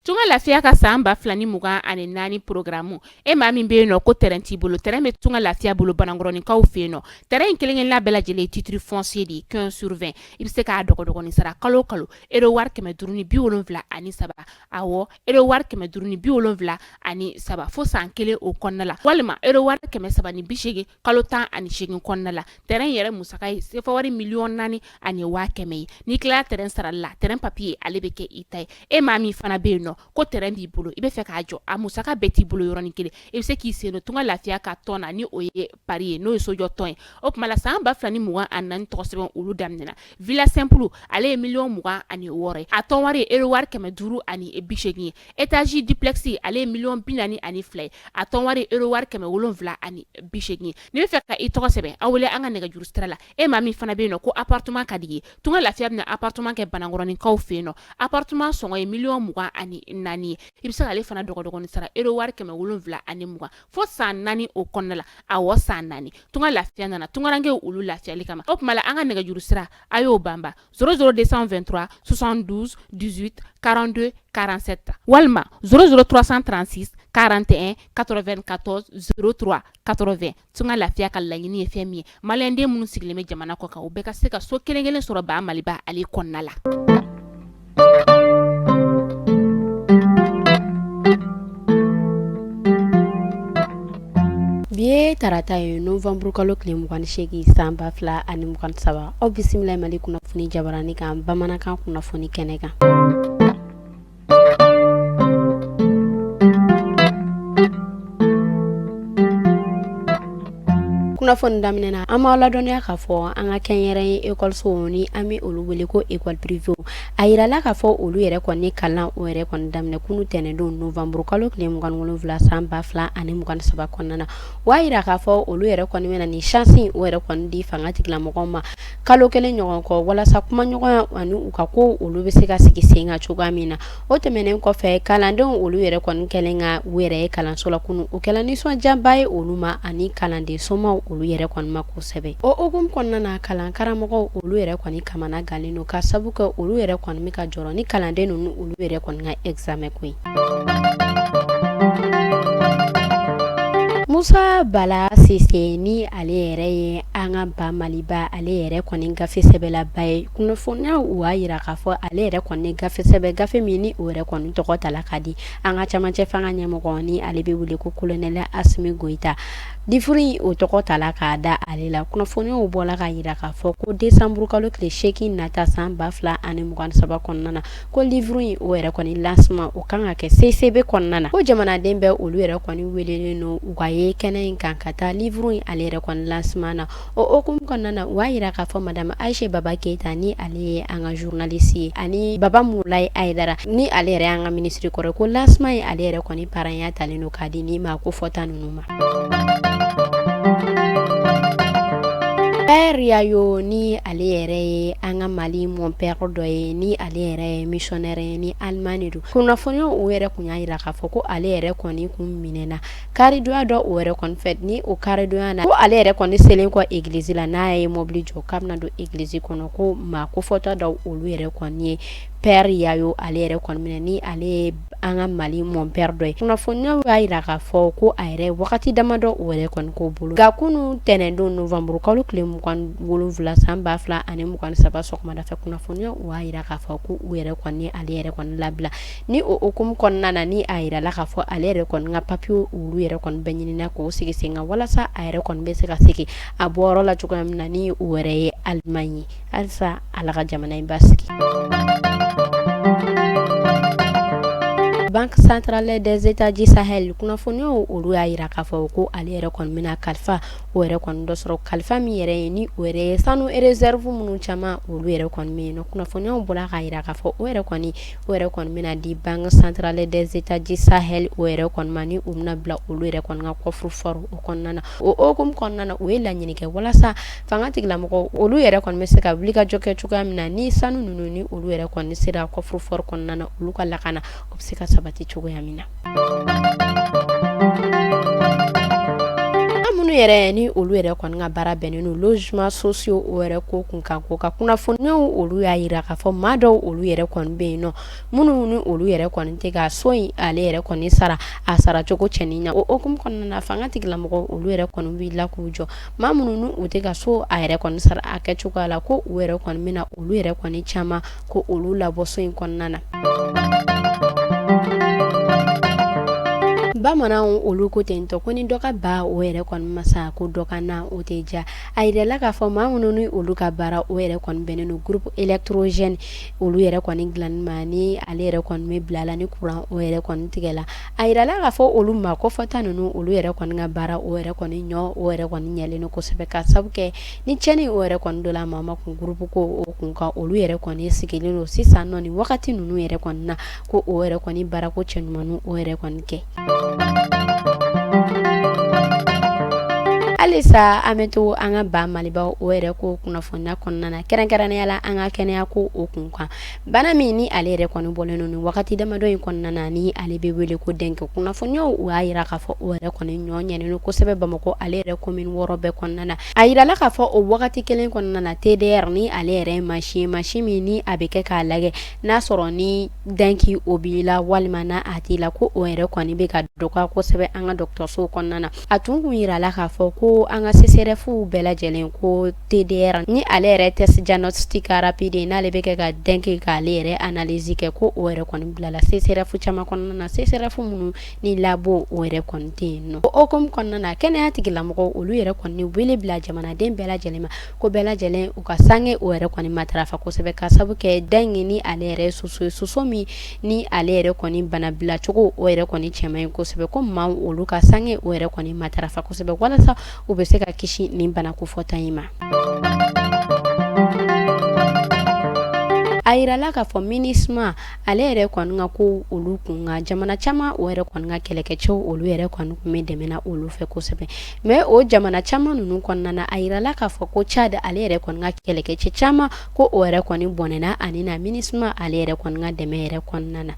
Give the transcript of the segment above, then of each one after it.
Tunga lafiya ka san ba fila ni mugan ani naani porogaramu e maa min bɛ yen nɔ ko tɛrɛn t'i bolo tɛrɛn bɛ tunga lafiya bolo banankɔrɔninkaw fɛ yen nɔ tɛrɛn kelenkelenna bɛɛ lajɛlen titre foncier de quinze sur vingt i bɛ se k'a dɔgɔdɔgɔnin sara kalo kalo ero wari kɛmɛ duuru ni bi wolonwula ani saba awɔ ero wari kɛmɛ duuru ni bi wolonwula ani saba fo san kelen o kɔnɔna la walima ero wari kɛmɛ saba ni bisegin kalo tan ani segin kɔnɔna la tɛrɛn yɛrɛ musaka ye sefa wari miliyɔn naani ani waa kɛmɛ ye n'i tilala tɛrɛn sara la tɛrɛn papiye ale bɛ kɛ i ta ye e maa min fana bɛ yen nɔ ko tɛrɛn b'i bolo i b'a fɛ k'a jɔ a musaka bɛɛ t'i bolo yɔrɔnin kelen i bɛ se k'i sen don tunga lafiya ka tɔn na ni o ye pari ye n'o ye sojɔ tɔn ye o tuma la san ba fila ni mugan ani naani tɔgɔ sɛbɛn olu daminɛna villa simple ale ye miliyɔn mugan ani wɔɔrɔ a tɔnwari ero wari kɛmɛ duuru ani bisegin ye étage duplex ale ye miliyɔn bi naani ani fila ye a tɔnwari ero wari kɛmɛ wolonwula ani bisegin n'i b'a fɛ ka i tɔgɔ sɛbɛn an wele an ka nɛgɛjuru sira la e maa min fana bɛ yen nɔ ko appartement ka d'i ye tunga lafiya bɛna appartement kɛ banankɔrɔninkaw fɛ yen nɔ appartement sɔngɔ ye miliyɔn mugan ani naani ye i bɛ se k'ale fana dɔgɔdɔgɔnin sara ero wari kɛmɛ wolonwula ani mugan fo san naani o kɔnɔna la a wa san naani tun ka lafiya nana tunkarakarankɛ olu lafiyali kama o tuma an ka nɛgɛjuru sira a y'o banba szouru de sanfɛ2 sonsan duuru karante karansɛ ta walima sroursan transi karante katɔ2 katɔ s katorofɛ tun ka lafiya ka laɲiniini ye fɛn min ye maliyɛnden minnu sigilen bɛ jamana kɔ kan u bɛɛ ka se ka so kelenkelen sɔrɔ ba maliba ale kɔnɔna la bi ye tarata ye novanburukalo tile 28 san ba fila ani mugan saba aw bisimila mali kunnafoni jabarani kan bamanankan kunnafoni kɛnɛ kan kunnafoni daminɛ na an b'aw ladɔnniya k'a fɔ an ka kɛnyɛrɛye ekɔlisow ni an bɛ olu wele ko ekɔli pirivew a yirala k'a fɔ olu yɛrɛ kɔni ye kalan o yɛrɛ kɔni daminɛ kunu tɛnɛndon novanburu kalo tile mugan wolonwula san ba fila ani mugan saba kɔnɔna na o y'a yira k'a fɔ olu yɛrɛ kɔni bɛna ni sansi o yɛrɛ kɔni di fanga tigilamɔgɔw ma kalo kelen ɲɔgɔn kɔ walasa kumaɲɔgɔnya ani u ka kow olu bɛ se ka sigi sen kan cogoya min na o tɛmɛnen kɔfɛ kalandenw olu yɛrɛ kɔni kɛlen ka u yɛrɛ ye kalanso la kunun o kɛla nisɔndiyaba ye olu ma ani kalanden somaw olu yɛrɛ kɔni ma kosɛbɛ o hukumu kɔnɔna na kalan karamɔgɔw olu yɛrɛ kɔni kamana gannen don ka sabu kɛ olu yɛrɛ kɔni bɛ ka jɔrɔ ni kalanden ninnu olu yɛrɛ kɔni ka ɛgizamɛn ko ye Musa bala sise ni ale yɛrɛ ye an ka ba maliba ale yɛrɛ kɔni gafe sɛbɛnlaba ye kunnafoniyaw y'a yira k'a fɔ ale yɛrɛ kɔni gafe sɛbɛn gafe min ni o yɛrɛ kɔni tɔgɔ tala ka di an ka camancɛ fanga ɲɛmɔgɔ ni ale bɛ wele ko kolonɛli asimi goyita liburu o tɔgɔ tala k'a da ale la kunnafoniyaw bɔla k'a yira k'a fɔ ko desanburukalo tile seegin nata san ba fila ani mugan saba kɔnɔna na ko livre in o yɛrɛ kɔni lancement o kan ka kɛ CICB kɔnɔna na ko jamanaden bɛɛ olu yɛrɛ kɔni welelen don u ka ye kɛnɛ in kan ka taa livre in ale yɛrɛ kɔni lancement na o hukumu kɔnɔna na u y'a jira k'a fɔ madamu ayisa baba keyita ni ale ye an ka zurunalisi ye ani baba mulaye ayidara ni ale yɛrɛ an ka minisiri kɔrɔ ye ko lancement in ale yɛrɛ kɔni parɛnya talen don k'a di nin maa ko fɔta ninnu Pɛri yayo ni ale yɛrɛ ye an ka mali mɔnpɛri dɔ ye ni ale yɛrɛ ye misiyɔnɛri ye ni alimani don kunnafoniya o yɛrɛ kun y'a jira k'a fɔ ko ale yɛrɛ kɔni kun minɛna karidonya dɔ o yɛrɛ kɔni fɛ ni o karidonya na ko ale yɛrɛ kɔni selen kɔ egiliz la n'a ye mɔbili jɔ k'a bɛna don egiliz kɔnɔ ko maa ko fɔta dɔ olu yɛrɛ kɔni ye pɛri yayo ale yɛrɛ kɔni minɛ ni ale an ka mali mɔnpɛri dɔ ye kunnafoniya y'a jira k'a fɔ ko a yɛrɛ wagati damadɔ o yɛrɛ kɔni k'u bolo nka kunun ntɛnɛndon nowanburukalo tile mugan wolonwula san ba fila ani mugan saba sɔgɔmada fɛ kunnafoniya o y'a jira k'a fɔ ko u yɛrɛ kɔni ale yɛrɛ kɔni labila ni o hukumu kɔnɔna na ni a jirala k'a fɔ ale yɛrɛ kɔni ka papiye olu yɛrɛ kɔni bɛ ɲini k'o sigi sen kan walasa a yɛrɛ kɔni bɛ se ka segin a bɔyɔrɔ la cogoya min na ni o yɛrɛ ye alimaɲi ye halisa ala ka jamana in basigi Banque centrale des États du Sahel kunnafoniyaw olu y'a jira k'a fɔ ko ale yɛrɛ kɔni bɛna kalifa o yɛrɛ kɔni dɔ sɔrɔ kalifa min yɛrɛ ye ni o yɛrɛ ye sanu réserve minnu caman olu yɛrɛ kɔni bɛ yen nɔ kunnafoniyaw bɔra k'a jira k'a fɔ o yɛrɛ kɔni o yɛrɛ kɔni bɛna di Banque centrale des États du Sahel o yɛrɛ kɔni ma ni u bɛna bila olu yɛrɛ kɔni ka coffre-fort o kɔnɔna na o hukumu kɔnɔna na u ye laɲini kɛ walasa fanga tigilamɔgɔ olu yɛrɛ kɔni bɛ se ka wulikajɔ kɛ cogoya min na ni sanu ninnu ni olu yɛrɛ kɔni sera coffre-fort kɔnɔna na olu ka lakana o bɛ se ka sabati cogoya min na minnu yɛrɛ ni olu yɛrɛ kɔni ka baara bɛnnen don logements sociaux o yɛrɛ ko kun kan ko ka kunnafoniw olu y'a jira k'a fɔ maa dɔw olu yɛrɛ kɔni bɛ yen nɔ minnu ni olu yɛrɛ kɔni tɛ ka so in ale yɛrɛ kɔni sara a saracogo cɛɲi na o hukumu kɔnɔna na fanga tigilamɔgɔ olu yɛrɛ kɔni wulila k'u jɔ maa minnu ni u tɛ ka so a yɛrɛ kɔni sara a kɛcogoya la ko u yɛrɛ kɔni bɛna olu yɛrɛ kɔni caman ko olu labɔ so in kɔnɔna na bamananw olu ko ten tɔ ko ni dɔ ka ba o yɛrɛ kɔni ma sa ko dɔ ka na o tɛ diya a jirala k'a fɔ maa minnu ni olu ka baara o yɛrɛ kɔni bɛnnen don groupe électrogène olu yɛrɛ kɔni dilanni ma ni ale yɛrɛ kɔni bɛ bila la ni kuran o yɛrɛ kɔni tigɛla A jirala k'a fɔ olu maa ko fɔta ninnu olu yɛrɛ kɔni ka baara o yɛrɛ kɔni ɲɔ o yɛrɛ kɔni ɲɛlen don kosɛbɛ ka sabu kɛ ni cɛnni o yɛrɛ kɔni don la maa ma kun groupe ko o kun kan olu yɛrɛ kɔni sigilen don sisan nɔ ni wagati ninnu yɛrɛ kɔni na ko o yɛrɛ kɔni baarako cɛɲuman o yɛrɛ kɔni kɛ halisa an bɛ to an ka ba maliba o yɛrɛ ko kunnafoniya kɔnɔna na kɛrɛnkɛrɛnnenya la an ka kɛnɛya ko o kun kan Bana min ni ale yɛrɛ kɔni bɔlen don nin wagati damadɔ in kɔnɔna na ni ale bɛ wele ko dengue kunnafoniw u y'a jira k'a fɔ o yɛrɛ kɔni ɲɔ ɲɛnen kosɛbɛ bamakɔ ale yɛrɛ commune wɔɔrɔ bɛɛ kɔnɔna na a jirala k'a fɔ o wagati kelen kɔnɔna na TDR ni ale yɛrɛ mansin mansin min ni a bɛ kɛ k'a lajɛ n'a sɔrɔ ni dengue o b'i la walima n'a t'i la ko o yɛrɛ kɔni bɛ ka dɔgɔya kosɛbɛ an ka dɔgɔtɔrɔsow kɔnɔna na a tun kun jirala k'a fɔ ko an ka CSREFw bɛɛ lajɛlen ko TDR ni ale yɛrɛ test diagnostic rapide n'ale bɛ kɛ ka dengue k'ale yɛrɛ analyse kɛ ko o yɛrɛ kɔni bilala CSREF caman kɔnɔna na CSREF minnu ni labo o yɛrɛ kɔni tɛ yen nɔ o hukumu kɔnɔna na kɛnɛya tigilamɔgɔw olu yɛrɛ kɔni wele bila jamanaden bɛɛ lajɛlen ma ko bɛɛ lajɛlen u ka sange o yɛrɛ kɔni matarafa kosɛbɛ ka sabu kɛ dengue ni ale yɛrɛ soso ye soso min ni ale yɛrɛ kɔni bana bilacogo o yɛrɛ kɔni cɛ man ɲi kosɛbɛ ko maaw olu ka sange o yɛrɛ kɔni matarafa kosɛbɛ walasa u bɛ se ka kisi nin bana kofɔta in ma a jirala k'a fɔ MINUSMA ale yɛrɛ kɔni ka ko olu kun kan jamana caman o yɛrɛ kɔni ka kɛlɛkɛcɛw olu yɛrɛ kɔni kun bɛ dɛmɛ na olu fɛ kosɛbɛ mais o jamana caman ninnu kɔnɔna na a jirala k'a fɔ ko Tchad ale yɛrɛ kɔni ka kɛlɛkɛcɛ caman ko o yɛrɛ kɔni bɔnɛna a ni na MINUSMA ale yɛrɛ kɔni ka dɛmɛ yɛrɛ kɔnɔna na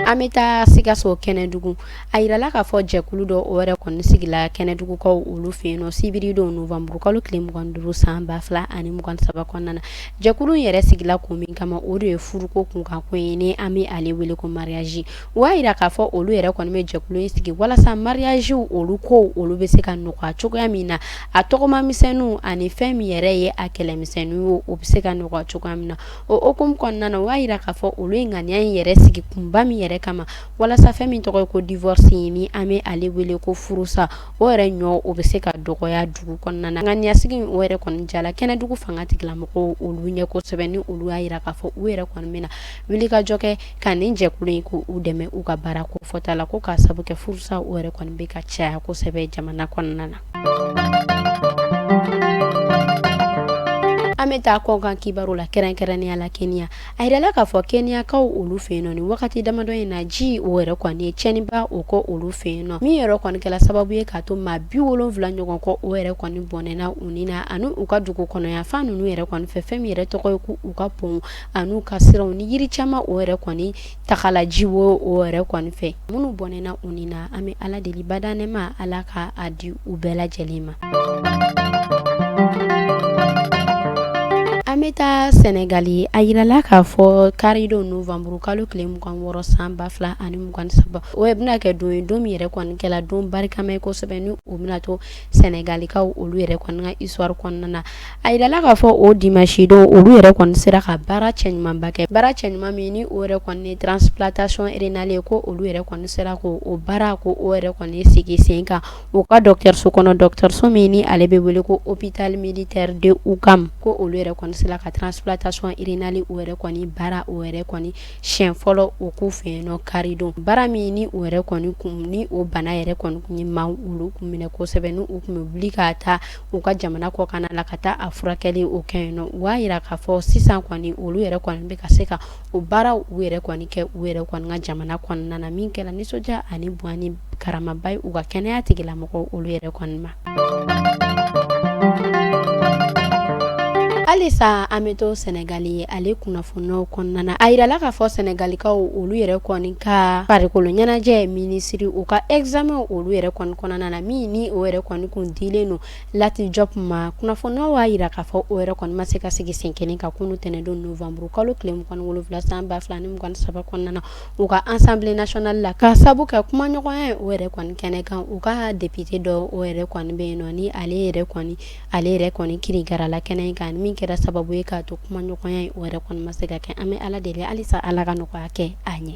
An bɛ taa sikaso kɛnɛdugu a jirala k'a fɔ jɛkulu dɔ o yɛrɛ kɔni sigila kɛnɛdugukaw olu fɛ yen nɔ sibiridon nowanburukalo tile mugan duuru san ba fila ani mugan saba kɔnɔna na jɛkulu yɛrɛ sigila ko min kama o de ye furuko kunkan ko ye ni an bɛ ale wele ko mariage O y'a jira k'a fɔ olu yɛrɛ kɔni bɛ jɛkulu in sigi walasa mariagew olu ko olu bɛ se ka nɔgɔya cogoya min na, a tɔgɔmamisɛnninw ani fɛn min yɛrɛ ye a kɛlɛmisɛnninw ye o bɛ se ka nɔgɔya cogoya min na, o hukumu kɔnɔna na o y'a jira k'a fɔ olu ye ŋaniya in yɛrɛ sigi kunba min yɛrɛ kama walasa fɛn min tɔgɔ ye ko divorce ni an bɛ ale wele ko furusa o yɛrɛ ɲɔ o bɛ se ka dɔgɔya dugu kɔnɔna na, ŋaniyasigi in o yɛrɛ kɔni diyara kɛnɛdugu fanga tigilamɔgɔw olu ɲɛ kosɛbɛ ni olu y'a jira k'a fɔ u yɛrɛ kɔni bɛna wulikajɔ kɛ ka nin jɛkulu in k'u dɛmɛ u ka baara kofɔta la ko ka sabu kɛ furusa o yɛrɛ kɔni bɛ ka caya kosɛbɛ jamana kɔnɔna na an bɛ taa kɔkan kibaru la kɛrɛnkɛrɛnnenya la Kenya a jirala k'a fɔ Kenyakaw olu fɛ yen nɔ nin wagati damadɔ in na ji o yɛrɛ kɔni ye tiɲɛniba o kɛ olu fɛ yen nɔ min yɛrɛ kɔni kɛla sababu ye k'a to maa bi wolonwula ɲɔgɔn kɔ o yɛrɛ kɔni bɔnɛna u ni na ani u ka dugu kɔnɔ yanfan ninnu yɛrɛ kɔni fɛ fɛn min yɛrɛ tɔgɔ ye ko u ka pont ani u ka siraw ni yiri caman o yɛrɛ kɔni tagala ji o yɛrɛ kɔni fɛ minnu bɔnɛna u ni na an bɛ ala deli bada nɛɛma ala ka a di u bɛɛ lajɛlen ma an bɛ taa sɛnɛgali a jirala k'a fɔ karidon nowanburukalo tile mugan wɔɔrɔ san ba fila ani mugan saba o bɛna kɛ don ye don min yɛrɛ kɔni kɛla don barikama ye kosɛbɛ ni u bɛna to sɛnɛgalikaw olu yɛrɛ kɔni ka histoire kɔnɔna na a yirala k'a fɔ o dimanche don olu yɛrɛ kɔni sera ka baara cɛɲumanba kɛ baara cɛɲuman min ni o yɛrɛ kɔni ye transplantation rénale ye ko olu yɛrɛ kɔni sera ko o baara ko o yɛrɛ kɔni sigi sen kan u ka dɔgɔtɔrɔso kɔnɔ dɔgɔtɔrɔso min ni ale bɛ wele ko hôpital militaire de Ouakam ko olu yɛrɛ kɔni sera ka transplantation rénale o yɛrɛ kɔni baara o yɛrɛ kɔni siɲɛ fɔlɔ o k'u fɛ yen nɔ karidon baara min ni o yɛrɛ kɔni kun ni o bana yɛrɛ kɔni kun ye maa olu kun minɛ kosɛbɛ ni u kun bɛ wuli ka taa u ka jamana kɔkanna na ka taa a furakɛli o kɛ yen nɔ u y'a yira k'a fɔ sisan kɔni olu yɛrɛ kɔni bɛ ka se ka o baara u yɛrɛ kɔni kɛ u yɛrɛ kɔni ka jamana kɔnɔna na min kɛra nisɔndiya ani bonya ni karamaba ye u ka kɛnɛya tigilamɔgɔ olu yɛrɛ kɔni ma halisa an bɛ to sɛnɛgali ye ale kunnafoniw kɔnɔna a yirala k'a fɔ sɛnɛgalikaw olu yɛrɛ kɔni ka farikolo ɲɛnajɛ minisiri u ka examen olu yɛrɛ kɔni kɔnɔna na min ni o yɛrɛ kɔni kun dilen don Lat Diop ma kunnafoniw y'a yira k'a fɔ o yɛrɛ kɔni ma se ka sigi sen kelen kan kunu tɛnɛndon novembre kalo tile mugan wolonwula san ba fila ni mugan saba kɔnɔna na u ka Assemblée nationale la ka sabu kɛ kumaɲɔgɔnya o yɛrɛ kɔni kɛnɛ kan u ka député dɔ o yɛrɛ kɔni bɛ yen nɔ ni ale yɛrɛ ale yɛrɛ kɔni kirinkarala kɛnɛ in kan min kɛra sababu ye k'a to kumaɲɔgɔnya o yɛrɛ kɔni ma se ka kɛ an bɛ ala deli halisa ala ka nɔgɔya kɛ a ɲɛ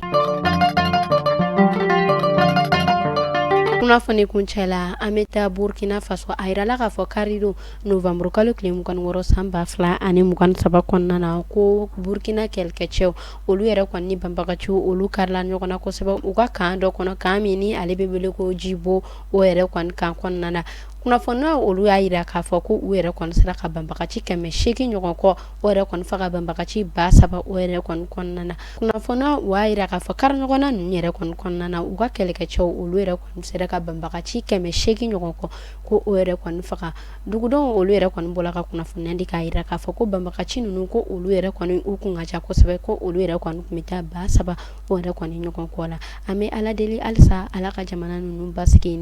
kunnafoni kuncɛ la an bɛ taa burukina faso a yirala k'a fɔ karidon novembre kalo tile mugan wɔɔrɔ san ba fila ani mugan saba kɔnɔna na ko burukina kɛlɛkɛcɛw olu yɛrɛ kɔni ni banbagaci olu karila ɲɔgɔn na kosɛbɛ u ka kan dɔ kɔnɔ kan min ni ale bɛ wele ko jibo o yɛrɛ kɔni kan kɔnɔna na kunnafoniw olu y'a yira k'a fɔ ko u yɛrɛ kɔni sera ka banbagaci kɛmɛ seegin ɲɔgɔn kɔ o yɛrɛ kɔni faga ka banbagaci ba saba o yɛrɛ kɔni kɔnɔna na kunnafoniw y'a yira k'a fɔ kari ɲɔgɔnna ninnu yɛrɛ kɔni kɔnɔna na u ka kɛlɛkɛcɛ olu yɛrɛ kɔni sera ka banbagaci kɛmɛ seegin ɲɔgɔn kɔ ko o yɛrɛ kɔni faga dugudenw olu yɛrɛ kɔni bɔra ka kunnafoniya di k'a yira k'a fɔ ko banbagaci ninnu ko olu yɛrɛ kɔni u kun ka ca kosɛbɛ ko olu yɛrɛ kɔni kun bɛ taa ba saba o yɛrɛ kɔni ɲɔgɔn kɔ la an bɛ ala deli halisa ala ka jamana ninnu basigi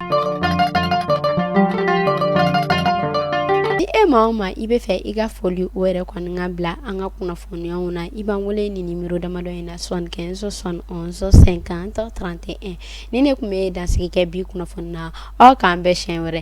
ni e maa o maa i bɛ fɛ i ka foli o yɛrɛ kɔni ka bila an ka kunnafoniyaw na i b'an wele ni numéro damadɔ in na soixante-quinze soixante et onze cinquante trente et un ni ne kun bɛ dansigi kɛ bi kunnafoni na aw k'an bɛn siɲɛ wɛrɛ